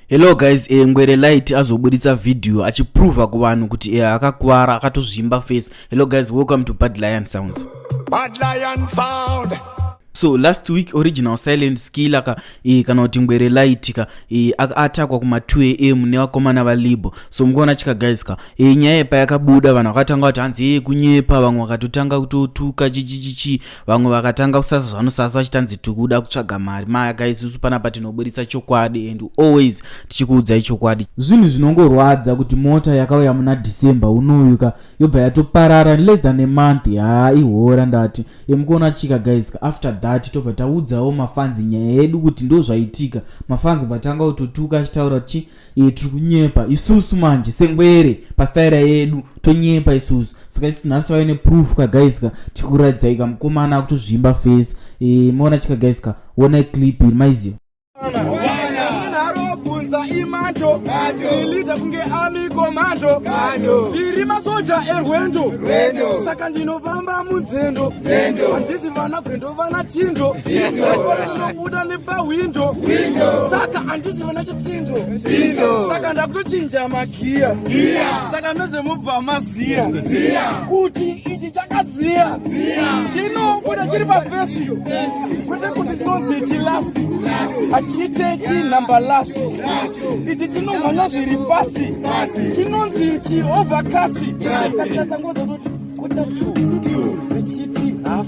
Hello guys, eh, Ngwere Light azoburitsa video achiprova kuvanhu kuti eh, akakuvara akatozvimba face. Hello guys, welcome to Bad Lion Sounds. Bad Lion Sound. so last week original silent skill aka e, kana kuti ngwere light ka e, atakwa kuma 2 am nevakomana valibo so mukuona chika guys ka e, nyaya payakabuda vanhu vakatanga kuti hanzi ee kunyepa vamwe vakatotanga kutotuka chichichichi vamwe vakatanga kusasa zvanosasa vachitanzi tikuda kutsvaga mari maya ka isusu panapa tinoburitsa chokwadi and always tichikuudzai chokwadi zvinhu zvinongorwadza kuti mota yakauya muna december unoyu ka yobva yatoparara less than a month haa ihora ndati emukuona chika guys ka after that tobva taudzawo mafanzi nyaya yedu kuti ndo zvaitika mafanzi vatanga kutotuka achitaura kuti e, tiri kunyepa isusu manje sengwere pastaira yedu tonyepa isusu saka isu nhasi tauya neproof ka guys ka tikuratidzai ka mukomana akutozvimba face e, maona chika guys ka wona clip iri maiziva ilita kunge ami komando tiri masoja erwendo saka ndinofamba munzendo handisi vana gwendo vana chindo vanobuda nepahwindo saka handisi vana Sindo. Saka ndakutochinja magiya. Giya. Saka mese mubva maziya. Ziya. Kuti ichi chakaziya. Ziya. Chino kuda chiri pa face. Kuti kuti tonzi chi last. Achite chi number last. Ichi chino mwana zviri fast. Chino nzi chi overcast. Saka sangozo kuti kuta 2. Ichiti half.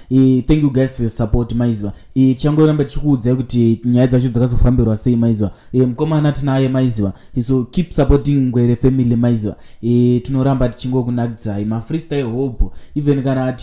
e, thank you guys for your support maiziva e, tichangorambe tichikuudzai kuti nyaya dzacho dzakazofambirwa sei maiziva e, mukomana tinaye maiziva e, so keep supporting ngwere family maiziva e, tinoramba tichingokunakidzai mafreestyle hobo even kana ati